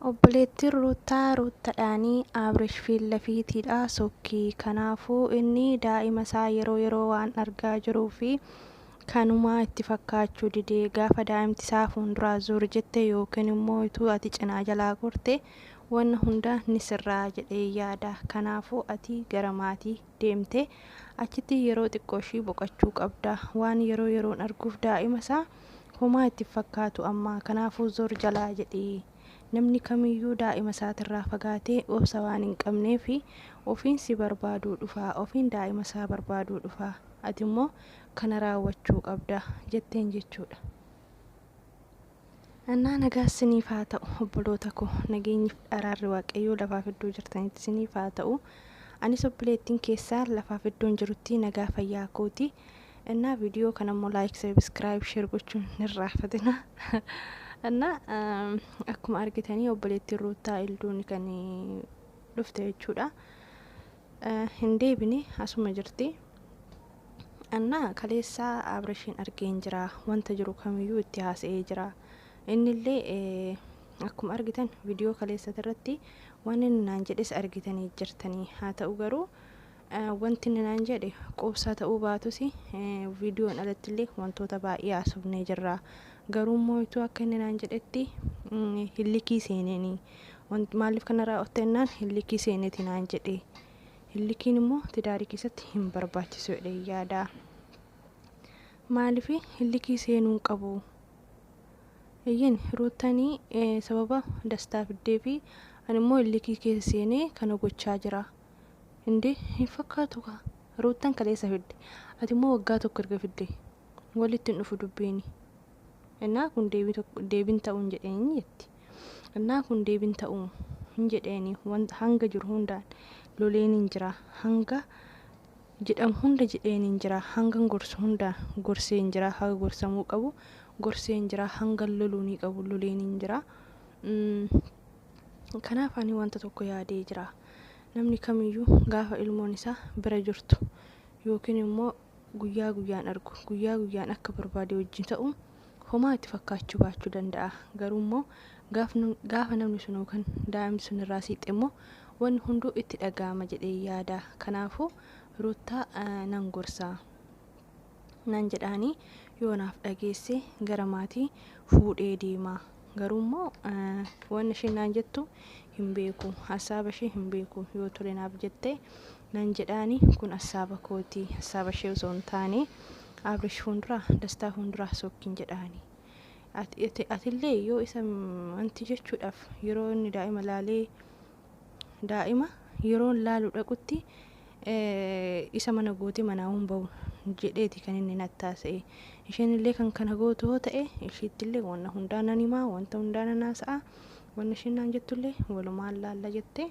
Obboleettiin Ruuttaa Ruuttadhaanii Abrish fiillafiitiidhaa sokki. Kanaafuu inni daa'ima isaa yeroo yeroo waan argaa jiruu fi kanumaa itti fakkaachuu dide. Gaafa daa'imti isaa fuunduraa zuur jette yookiin immoo ituu ati cinaa jalaa gorte wanna hunda ni sirraa jedhee yaada. Kanaafuu ati gara maatii. deemte achitti yeroo xiqqooshii boqachuu qabda waan yeroo yeroon arguuf daa'ima isaa homaa itti hin fakkaatu amma kanaafuu zor jalaa jedhi namni kamiyyuu daa'ima isaatirraa fagaatee obsa waan hin qabneef ofiin si barbaaduu dhufa ofiin daa'ima isaa barbaaduu dhufa ati immoo kana raawwachuu qabda jetteen jechuudha. Annaa nagaa siniif haa ta'u obboloota koo nageenyif araarri waaqayyoo lafaaf iddoo jirtanitti siniif haa ta'u anis obboleettiin keessaan lafaaf iddoon jirutti nagaa fayyaa kooti innaa viidiyoo kana immoo laayik sabiskiraayib sheer gochuun nirraafatina innaa akkuma argitanii obboleettiin ruuttaa ilduun kan dhufte jechuudha. Hin deebine asuma jirti. Anna kaleessa Abrishiin argeen jira. Wanta jiru kamiyyuu itti haasa'ee jira. Innillee akkuma argitan viidiyoo kaleessati irratti waan inni naan jedhes argitanii jirtanii. Haa ta'u garuu wanti inni naan jedhe quubsaa ta'uu baatus viidiyoon alatti illee wantoota baay'ee haasofnee jirra. Garuu immoo ituu akka inni naan jedhetti hillikii seeneenii. Wanti maaliif kana raawwatte jennaan hillikii seeneeti naan jedhe. Hillikiin immoo tidaarii keessatti hin barbaachisu jedhee yaada. Maaliif hillikii seenuu hin qabu? Eeyyeen ruuttanii eh, sababa dastaa fiddee fi ani immoo hillikii keessa seenee kana gochaa jira. Indee hin fakkaatu kaa. Ruuttan kaleessa fidde. Ati immoo waggaa tokko erga fidde. Walitti hin dhufu dubbiini. Ennaa kun deebii tokko deebiin ta'u hin jedheeni jetti. Ennaa kun deebiin ta'u hin jedheeni wanta hanga jiru hundaan loleen hin jira hanga jedhamu hunda jedheen hin jira hangan gorsu hundaan gorsee hin jira haga gorsamuu qabu gorsee hin jira hangan loluunii qabu loleen hin jira. Mm, Kanaaf ani wanta tokko yaadee jira. Namni kamiyyuu gaafa ilmoon isaa bira jirtu yookiin immoo guyyaa guyyaan argu, guyyaa guyyaan akka barbaade wajjin ta'u homaa itti fakkaachuu baachuu danda'a. Garuu immoo gaafa namni sun yookaan daa'imni sun irraa siqxe immoo wanni hunduu itti dhaga'ama jedhee yaada. Kanaafuu Ruuttaa nan gorsa. Nan jedhaanii yoo naaf dhageesse gara maatii fuudhee deema. Garuu immoo wanni isheen naan jettu hin beeku. Hassaaba ishee hin beeku. Yoo tole naaf jette Nan jedhaani kun assaaba kooti assaaba ishee osoo hin taane abrish fuundura dastaa fuundura sookki hin jedhaani Ati- atillee yoo isa wanti jechuudhaaf yeroo inni daa'ima laalee daa'ima yeroon laalu dhaqutti eh, isa mana goote manaa hin ba'u jedheeti kan inni nattaasa'e isheen illee kan kana gootu yoo ta'e ishiitti illee wanna hundaa nan himaa wanta hundaa nan haasa'a wanna isheen naan jettullee walumaan laalla jettee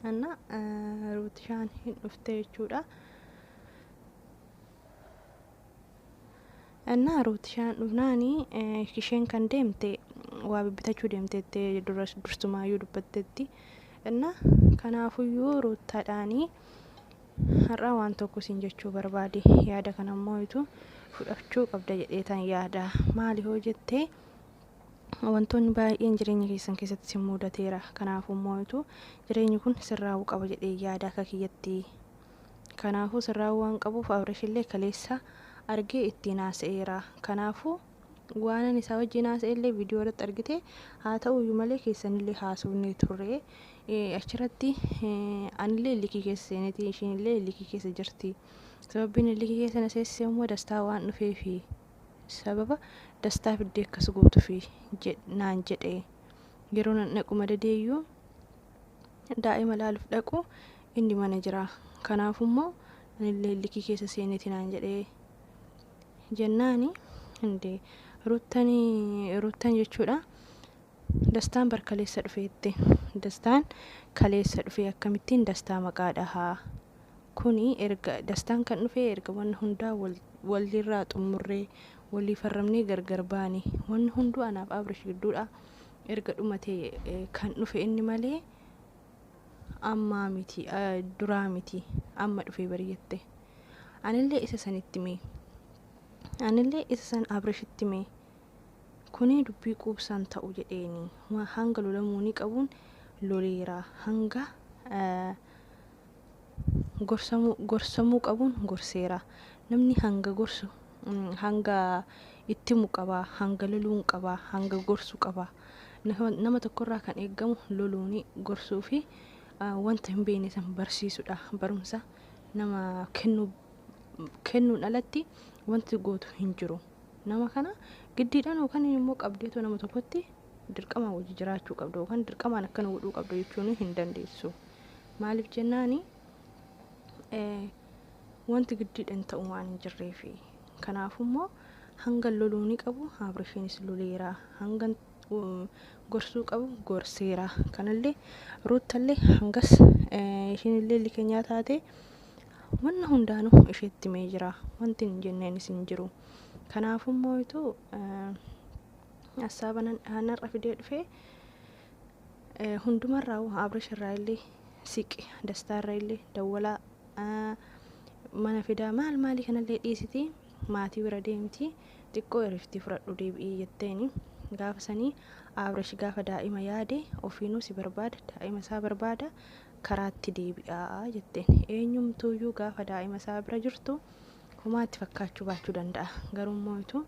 እና ruutishaan hin dhufte jechuudha እና ruutishaan dhufnaani isheen kan deemte waa bibbitachuu deemteette dursumaayyuu dubbattetti እና kanaafuyyuu ruuttaadhaani har'a waan tokko siin jechuu barbaade yaada kanammoo itu fudhachuu qabda jedheetan yaada maali hoo jettee Wantoonni baay'een jireenya keessan keessatti isin muudateera. Kanaafuu moo'itu jireenyi kun sirraa'uu qaba jedhee yaada akka kiyyatti. Kanaafuu sirraa'uu waan qabuuf Abrishillee kaleessa argee ittiin haasa'eera. Kanaafuu waanan isaa wajjin haasa'ellee viidiyoo irratti argite haa ta'uyyuu malee keessanillee haasofnee turre. Achirratti anillee likii keessa seeneeti ishiinillee likii keessa jirti. Sababbiin likii keessa na seessise immoo dastaa waan dhufeefi. sababa dastaa fiddee akkas gootufi naan jedhe yeroo nan dhaqu madadeeyyuu daa'ima laaluuf dhaqu inni mana jira kanaafummoo anillee likii keessa seeneeti naan jedhe jennaani indee ruttanii ruttan jechuudha dastaan bar kaleessa dhufeette dastaan kaleessa dhufee akkamittiin dastaa maqaa dhahaa Kuni erga dastaan kan dhufe erga wanna hundaa wal irraa xummurree walii farramnee gargar baane wanni hunduu anaaf Abrish gidduudha erga dhumate kan dhufe inni malee ammaa miti duraa miti amma dhufee bari jette anillee isa sanitti mee anillee isa san Abrishitti mee kuni dubbii quubsaan ta'u jedheeni hanga lolamuuni qabuun loleera hanga Gorsamuu, gorsamuu qabuun gorseera. Namni hanga gorsu, hanga itti himu qaba, hanga loluun qaba, hanga gorsu qaba. Nama tokko irraa kan eeggamu loluuni, gorsuu fi wanta hin beekne san barsiisudha. Barumsa nama kennuu, kennuun alatti wanti gootu hin jiru. Nama kana giddiidhaan yookaan immoo qabdeetoo nama tokkotti dirqamaan wajji jiraachuu qabda yookaan dirqamaan akkana godhuu qabda jechuun hin dandeessu. Maaliif jennaani wanti giddiidhaan ta'u waan hin jirreefi. Kanaafummoo hanga loluu ni qabu Abrisheenis loleera hanga gorsuu qabu gorseera. Kanallee ruuttallee hangas ishiinillee likenyaa taate wanna hundaanuu isheetti mee jira wanti hin jenneenis hin jiru. Kanaafummoo ituu Assaaba nan dhahan har'a fidee dhufee eh, hundumarraa hoo Abrish irraa illee siqe dastaa irra illee dawwalaa ah, mana fidaa maal maalii kanallee dhiisiti maatii bira deemti xiqqoo eriftii fudhadhu deebi'ii jetteeni gaafa sanii Abrish gaafa daa'ima yaade ofiinuu si barbaada daa'ima isaa barbaada karaatti deebi'aa jetteen eenyumtuuyyuu gaafa daa'ima isaa bira jirtu homaatti fakkaachuu baachuu danda'a garuu immoo utuu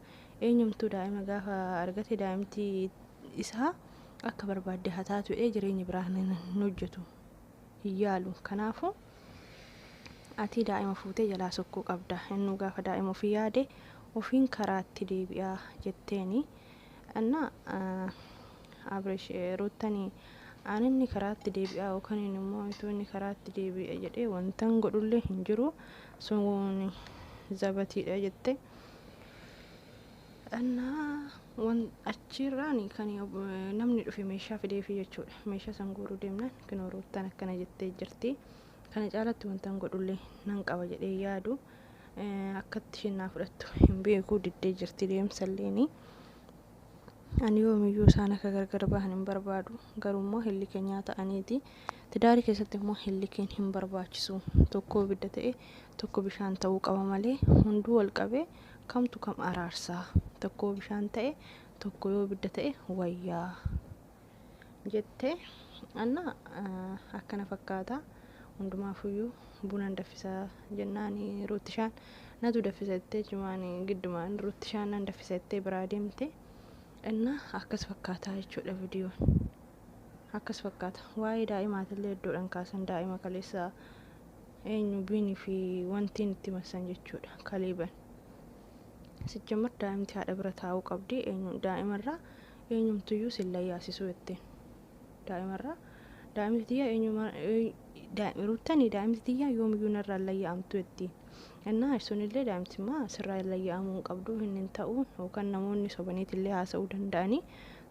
Eenyumtuu daa'ima gaafa argate daa'imti isaa akka barbaadde haa taatu jedhee jireenya biraa hin hin hojjetu. Hin yaalu. Kanaafuu ati daa'ima fuutee jalaa sokkuu qabda. Innuu gaafa daa'ima ofii yaade ofiin karaatti deebi'a jetteeni. Anna Abrish Ruuttani aan inni karaatti deebi'a yookaan immoo utuu inni karaatti deebi'a jedhee wantan godhullee hin jiru. Sun zabatiidha jette. Annaa wan achiirraan kan namni dhufe meeshaa fideefi jechuudha. Meeshaa san guuruu deemnaan kinoo ruuttaan akkana jettee jirti. Kana caalatti wantan godhullee nan qaba jedhee yaadu akkatti isheen naa fudhattu hin beeku diddee jirti deemsalleeni. Ani yoomiyyuu isaan akka gargar bahan hin barbaadu. Garuu immoo hin likenyaa ta'aniiti. Tidaari keessatti immoo hin likeen hin barbaachisu. Tokko ibidda ta'e tokko bishaan ta'uu qaba malee hunduu wal qabee kamtu kam araarsaa. Tokko bishaan ta'e tokko yoo ibidda ta'e wayyaa. jette anna akkana fakkaata hundumaafuyyuu bunan daffisa jennaan ruuttishaan natu daffisa jettee jimaan giddumaan ruuttishaan nan daffisa jettee biraa deemte inna akkas fakkaataa jechuudha vidiyoon akkas fakkaata waa'ee daa'imaatillee iddoodhaan kaasan daa'ima kaleessa eenyu biinii fi wantiin itti massan jechuudha kaleeban sijjamar daa'imti haadha bira taa'uu qabdi eenyu daa'imarraa Eenyumtuyyuu si hin layyaasisuu jetteen daa'imarraa. Daa'imti tiyya eenyumaa ruuttani daa'imti tiyya yoomiyyuu narraa hin layya'amtu jettiin. Innaa sunillee daa'imtimmaa sirraa hin layya'amuu hin qabdu hin hin ta'u yookaan namoonni sobaniitillee haasa'uu danda'anii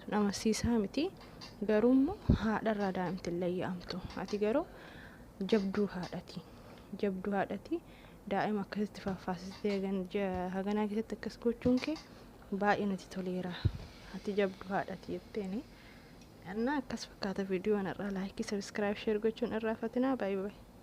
sun amansiisaa miti. Garuu immoo haadharraa daa'imti hin layya'amtu. Ati garuu jabduu haadhati. Jabduu haadhati daa'ima akkasitti faaffaasistee haganaa keessatti akkas gochuun kee Baay'ee nati toleera. Ati jabdu haadhati jetteeni. Annaa akkas fakkaata viidiyoon irraa laayikii sabiskiraayib sheer gochuun irraa fatinaa baay'ee baay'ee.